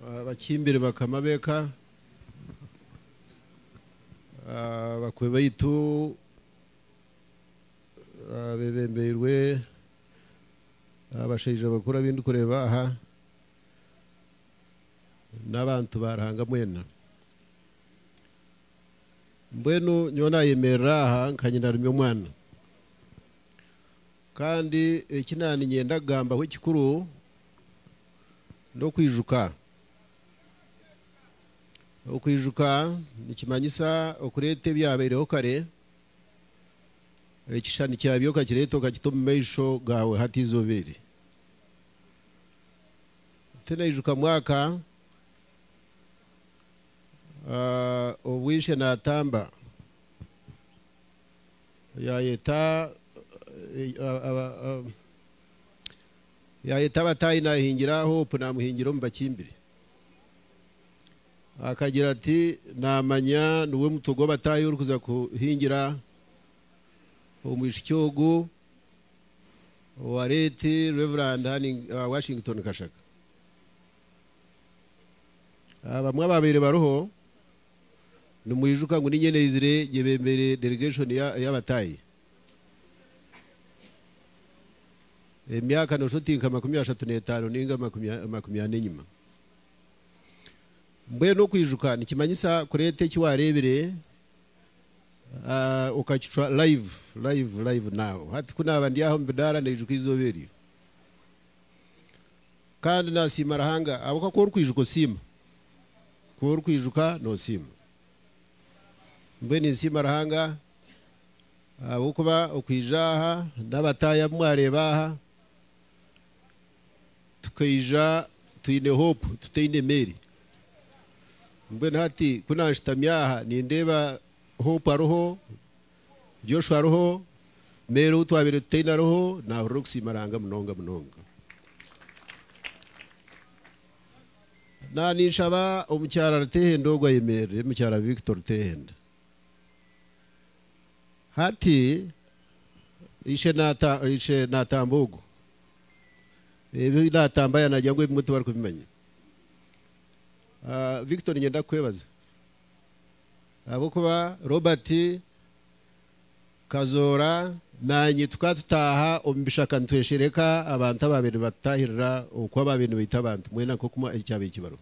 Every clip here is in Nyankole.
Abakimbire bakama b'eka, abakwe baitu abebembeirwe abashaija bakuru abu ndikureeba aha, n'abantu ba Ruhanga mwena. Mbwenu nyowe naayemerera aha nka nyina aremya omwana. Kandi eki naaniinyenda kugambaho ekikuru n'okwijuka. Okwijuka nikimanyisa okureeta ebyabaireho kare, ekishushani kyabyo okakireeta okakita omu maisho gaawe hati eizooba eri. Tinaijuka mwaka obu ishe naatamba. yaayeta yaayeta abataahi naahingira Hope naamuhingira omu bakimbiri. Akagira ati, Naamanya niwe mutwe gw'abataahi orikuza kuhingira omwishiki ogu owa Late Rev. Washington Kashaka. Abamwe abaabaire bariho Nimwijuka ngu niinye naizire gyebembere delegation y'abataahi emyaka noshusha oti nka makumi ashatu n'etaano ninga makumi ana enyima. Mbwenu okwijuka nikimanyisa kureeta eki waareebire okakicwa live, live, live now. Hati ku naaba ndi aha omu bidaara naijuka eizooba eryo. Kandi nasiima Ruhanga ahabw'okuba ku orikwijuka osiima. Ku orikwijuka nosiima. Mbwenu ninsiima Ruhanga ahabw'okuba okwija aha n'abataahi abu mwareeba aha, tukaija twine hope, tutaine emeeri. Mbwenu hati ku nanshutami aha nindeeba hope ariho. Joshua ariho, Mary ou twabaire tutaine ariho, naahurira okusiima Ruhanga munonga munonga. Na ninshaba omukyara Rutehenda ogwo ayemerere, Mukyara Victor Rutehenda. Hati, ishe naata, ishe naatamba ogwo. Ebi naatamba ya naagira ngu ebimwe tibarikubimanya. Ah, Victor niinyenda kukwebaza. Ahabw'okuba Robert Kazoora naanye tukaba tutaaha omu bishaka nitweshereka abantu abaabaire nibatutaahirira okwo abaabaire nibaita abantu mbwenu na nk'oku ekyabaire kibarwa.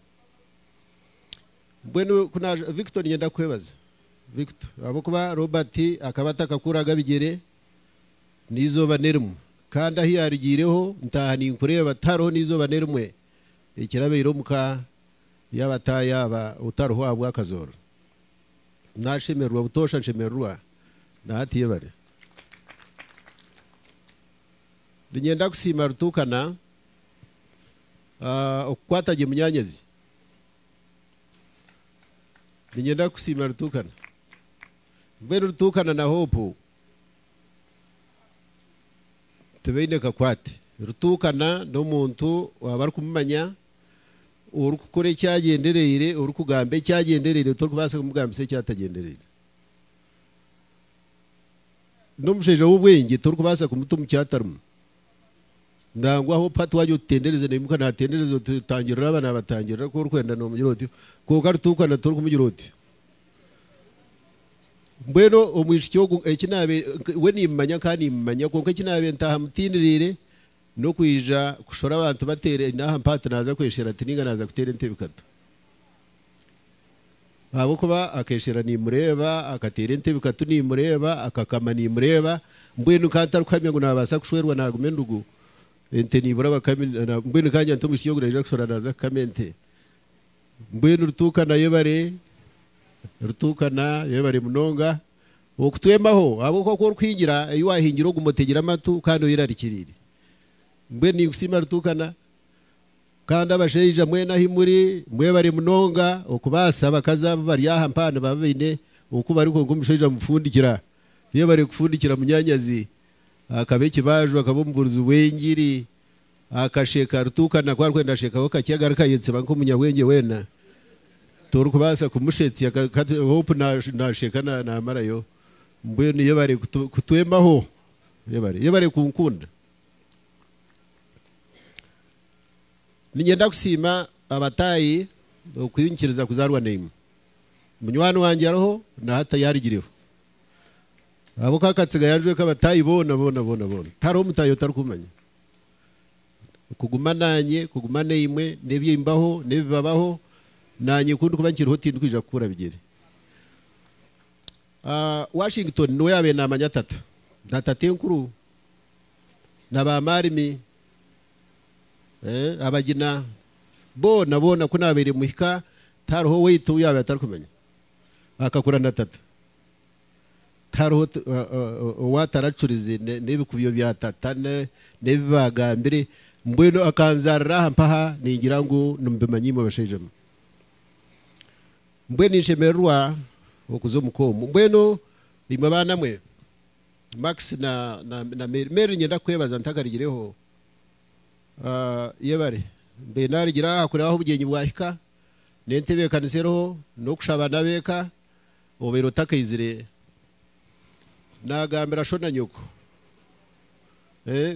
Mbwenu ku naaza Victor niinyenda kukwebaza Victor ahabw'okuba Robert akaba atakakuraga bigyere n'eizooba n'erimwe kandi ahu yaarugiireho ntaaha ninkureeba tihariho n'eizooba n'erimwe ekirabaire omu ka Yaaba ataahi aba otariho ahabw'akazooro, naashemererwa butoosha nshemererwa na hati yebare. Ninyenda kusiima Rutuukana okukwata gye munyaanyazi. Ninyenda kukusiima Rutuukana. Mbwenu Rutuukana na Hope tibaine kakwate. Rutuukana n'omuntu waaba arikumumanya Orikukora ekyagyendereire, orikugamba ekyagyendereire torikubaasa kumugambisa ekyatagyendereire. N'omushaija w'obwengye torikubaasa kumuta omu kyatarimu. Nangwa aho pati waagira oti tendereza naimuka naatendereza, oti tangirira aba naabatangirira, ku orikwenda noomugira otyo. Kwonka rutuukana torikumugira otyo. Mbwenu omwishiki ogu eki naabe, we niimumanya nkaaba niimumanya kwonka eki naabe ntaaha mutindiriire, N'okwija kushora abantu bateera n'aha mpaha ati naaza kweshera ati nainga naaza kuteera entebe kata. Ahabw'okuba akeshera niimureeba, akateera entebe katu niimureeba, akakama niimureeba, mbwenu nkaba ntarikuhamya ngu naabaasa kushwerwa naaguma endugu, ente niibura abakami, mbwenu nkagamba nti omwishiki ogwo naija kushora naaza kukama ente. Mbwenu Rutuuka nayo ebare, Rutuuka nayo ebare munonga. Okutwembaho ahabw'okuba ku orikuhingira ei waahingire ogume otegire amatu kandi oyerarikiriire. Mbwenu ninkusiima Rutuukana. Kandi abashaija mwena ahi muri, mwebare munonga okubaasa abakazi abu bari aha mpaha nibaba baine oku bari kwonka omushaija mufundikira. Yebare kufundikira munyaanyazi, akaba ekibaaju, akaba omubuurizi w'engiri, Akasheeka Arituuka nako arikwenda ashekaho kakye agaruka ayetsiba nk'omunyabwengye weena torikubaasa kumushetsya kati Hope nasheeka namarayo Mbwenu yebare kutwembaho yebare yebare kunkunda Ninyenda kusiima abataahi okunyikiriza kuzaarwa naimwe Munywani wangye ariho na hati yarigireho ahabw'okuba Katsiga yanjweka abataahi boona boona boona boona tihariho mutaahi otarikumanya. Kuguma naanye, kuguma naimwe, n'eby'embaho, n'ebibabaho, naanye ku ndikuba nkiriho tindikwija kukuura bigyere. Washington niwe yaabaire naamanya tata, na tatenkuru, na ba maarimi, abagina, boona boona ku naabaire muhika tihariho owaitu ou yaabaire atarikumanya. Akakura na tata. Tihariho owaataracurize n'ebikubyo bya tata n'ebi baagambire, mbwenu akanzaarira aha mpaha ningira ngu nimubimanya imwe bashaija mwe. Mbwenu ninshemererwa okuza omu ka omu. Mbwenu imwe baana mwe, Max na Mary, Mary niinyenda kukwebaza ntakarigireho, yebare mbaire naarigire aha kureeba ahu obugyenyi bwahika, n'entebeekanisa eriho, n'okushaba n'ab'eka, Obaire otakaizire nagambira sho na nyoko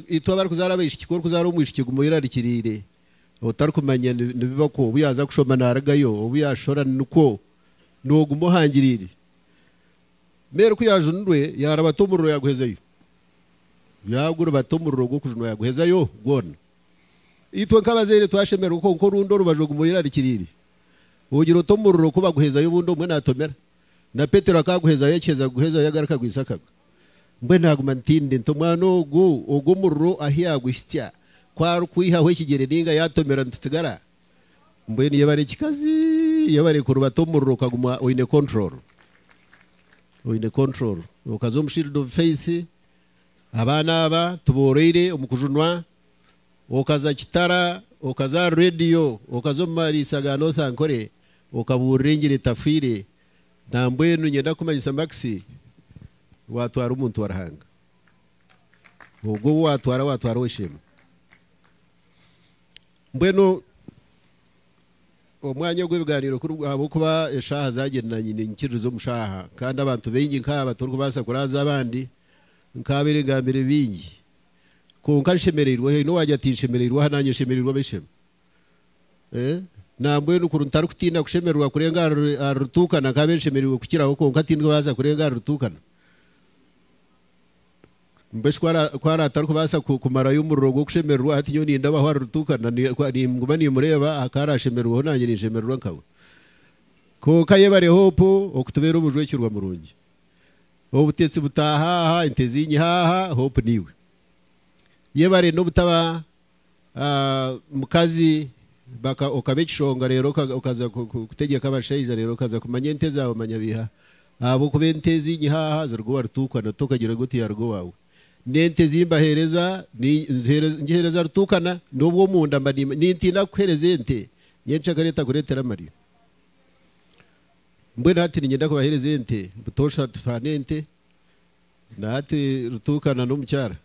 itwe abarikuzaara abaishiki ku orikuzaara omwishiki guma oyerarikiriire otarikumanya nibiba kwo obu yaaza kushoma narigayo obu yaashora nikwo noguma ohangiriire mbwenu ku yaajunirwe yaaribata omuriro yaguhezayo yaaguribata omuriro gw'okujunwa yaguhezayo gwona itwe nk'abazaire twashemererwa kwonka orundi orubaju oguma oyerarikiriire. Ogira ota omuriro ku baguhezayo obundi omwe natomera? Na Petero akaguhezayo akiheza kuguhezayo yagaruka aguhitsya akagwa. Mbwenu naguma ntindi nti omwana ogu ogu omuriro ahu yaguhitsya ku arikwihaho ekigyere ninga yatomera nitutsigara? Mbwenu yebare ekikazi yebare kuruba ta omuriro okaguma oyine control oyine control okaza omu shield of faith abaana aba tuboroire omu kujunwa Okaza Kitara, okaza aha reediyo, okaza omu mariisa ga North Ankole okabuurira engiri etafaire nambwenu nyenda kukumanyisa Max watwara omuntu wa Ruhanga. Ogwo ou watwara watwara ow'esheema. Mbwenu omwanya ogw'ebigaaniiro ku ahabw'okuba eshaaha zaagye na nyine nyikiririza omu shaaha kandi abantu baingi nk'aba torikubaasa kuraaza abandi nk'aba ebigambiro bingi Kwonka nshemereirwe. Haine owaagira ati, Nshemereirwe aha naanye nshemereirwe ab'eishe-emwe. Nambwenu kuri ntarikutiina kushemererwa kurenga ahari rutuukana, nkaabe nshemereirwe kukiraho kwonka tindibaaza kurenga ahari rutuukana. Mbwenu shi ku araabe atarikubaasa kumarayo omuriro gw'okushemererwa, hati nyowe nindabaho ahari rutuukana? Ninguma nimureeba aha ku araashemererweho naanye ninshemererwa nkawe. Kwonka yebare Hope okutubeera omujwekyerwa murungi. Obutetsi butaaha aha, ente zinyiha aha, hope niiwe. Yebare nobutaba mukazi okaba ekishonga reero okaza kutegyeka abashaija reero okaza kumanya ente zaawe manya biiha ahabwokuba ente zinyiha aha ziruga owa Rutuukana tokagira ngu tiyaruga owaawe. N'ente ezi mbaheereza ngiheereza Rutuukana n'obu omunda mba niintiina kukuheereza ente nyenkyakare etakureetera amarira. Mbwenu hati niinyenda kubaheereza ente butoosha tutaane ente. Na hati Rutuuka na n'omukyara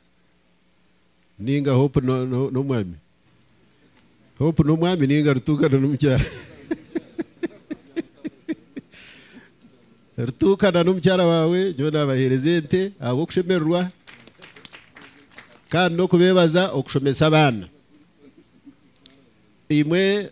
nainga Hope n'omwami. Hope n'omwami nainga Rutuuka na n'omukyara. Rutuuka na n'omukyara waawe nyowe naabaheereza ente ahabw'okushemererwa kandi n'okubeebaza okushomesa abaana. Imwe.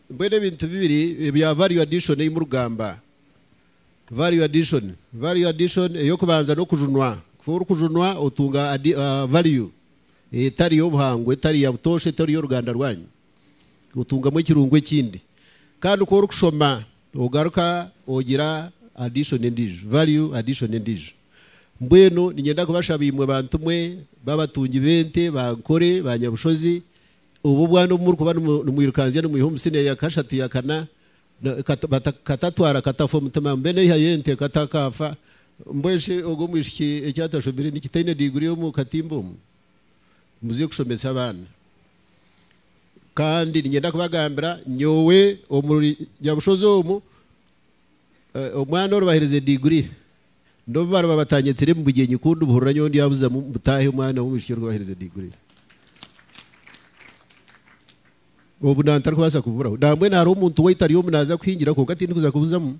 Mbwenu ebintu bibiri ebya value addition ei murugamba. Value addition, value addition ey'okubanza n'okujunwa. Ku orikujunwa otunga value etari y'obuhangwa, etari ya butoosha, etari y'oruganda rwanyu. Otungamu ekirungo ekindi. Kandi ku orikushoma ogaruka ogira addition endiijo, value addition endiijo. Mbwenu niinyenda kubashaba imwe bantu mwe b'abatungi b'ente, ba nkore, ba nyabushozi, Obwo obwana obu murikuba nimwirukanzya nimwiha omu siniya ya kashatu, ya kana, katatwara katafa omutima, mbwenu eiha y'ente katakaafa, mbwenu shi ogwo omwishiki eki atashomire niki taine diguri omu katimba omu? Muze kushomesa abaana. Kandi niinyenda kubagambira, nyowe omuri Nyabushozi omu, Omwana oru baherize diguri n'obu bariba batanyetsire mu bugyenyi ku ndibuhurira nyowe ndyabuzamu mbu taahi omwana w'omwishiki oru baherize diguri. Obu nda ntarikubaasa kububuraho. Nambwenu hariho omuntu waitu ari omu naaza kuhingira kwonka tindikuza kubuzamu.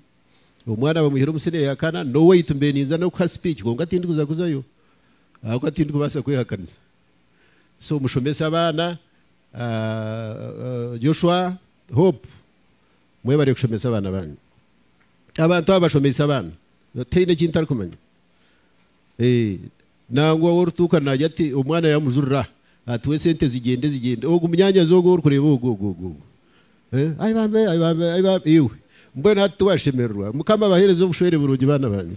Omwana bamwihire omu siniya ya kana, n'owaitu mbe ninza n'okuha sipiiki kwonka tindikuza kuzayo ahabw'okuba tindikubaasa kwehakanisa. So mushomese abaana, Joshua, Hope. Mwebare kushomesa abaana baanyu. Abantu abo bashomeise abaana. Tihaine eki ntarikumanya. Nangwa ou orituuka naagira ati, omwana yaamujurira, atuhe sente zigyende zigyende. Ogwo munyaanyazi ogwo ou orikureeba ogwo ogwo ogwo ogwo. Ai baambe, ai baambe, ai baambe, iwe! Mbwenu hati tiwashemererwa? Mukama abaheereze obushwere burungi baana baange.